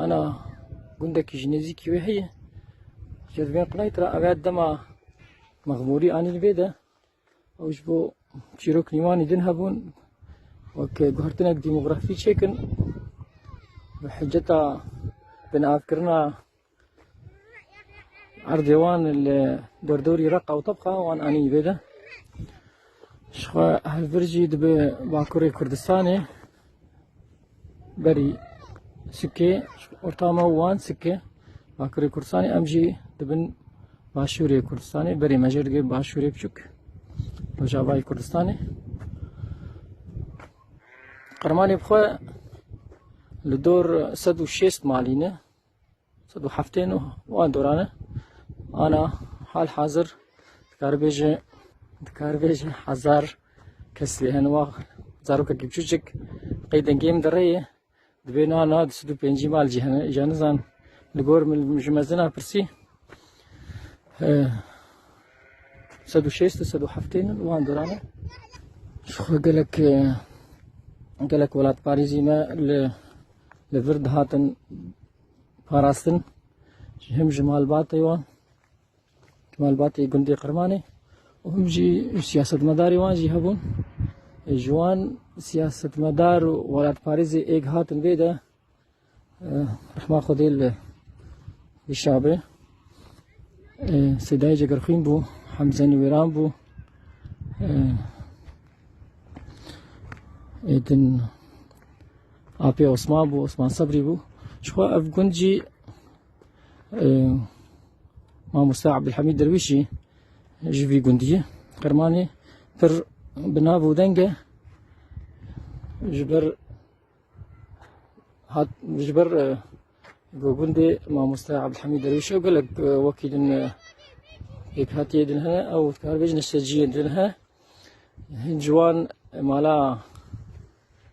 Ana gundekî ji nêzîkî wê heye. Ke divên qinayî tira eger dema mexmûrî anîn vê de ew ji bo çîrok nîwanî din hebûn wek guhertinek dîmografî çêkin bi hiceta binavkirina Erdê wan li derdorî reqa û tepqa wan anî vê de. Ji xwe hevbir jî dibe Bakurê Kurdistanê berî Sikê orta me û wan Sikê Bakurê Kurdistanê em jî dibin Başûrê Kurdistanê berê me jê dibê Başûrê Biçûk Rojavayê Kurdistanê. Qirmanê bi xwe li dor sed û şêst malî ne. Sed û heftê nû wan doran e. Ana hal hazir dikaribêje dikaribêje hezar kes lê hin wax zarokekî çûçik qeydên gêm di rê ye. Dibê nana di sed û pêncî mal jî hene îja nizan li gor min ji mezina pirsî sed û şêst û sed û heftê nû wan doran e. Ji xwe gelek gelek welatparêzî me li Li vir dihatin parastin ji him ji malbatê wan ji malbatê gundê Qirmanê û him jî siyasetmedarê wan jî hebûn. Ji wan siyasetmedar û welatparêzê êk hatin vê de rehma Xwedê li Dişabê Sedayê Cegerxwîn bû, Hemze Nûwêran bû, êdin Apê Osman bû, Osman Sebrî bû. Jixwe ev gund jî mamoste Abdülhamid Dervişi ji vî gundiye Qirmanê pir bi nav û deng e ji ber hat ji ber gundê mamoste Abdülhamid Dervişi ew gelek wekî din pêk hatiye din hene ew dikar bêjin sejiyê din he hin ciwan mala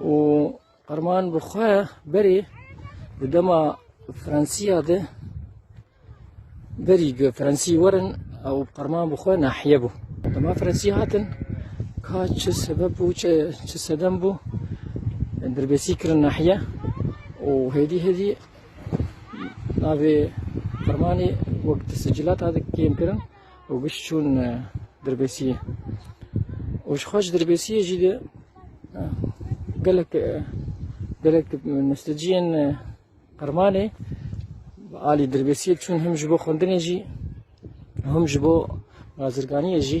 û Arman bi xwe berê di dema Fransîya de berî gu Fransî werin ew Arman bi xwe nahiye bû. Dema Fransî hatin ka çi sebeb bû çi çi sedem bû dirbêsî kirin nahiye û hêdî hêdî navê Armanê wek di sicilata de kêm kirin. û giş çûn dirbêsiyê û ji xwe ji dirbêsiyê jî de gelek gelek nusteciyên qirmanê alî dirbêsiyê çûn him ji bo xwendinê jî him ji bo bazirganiyê jî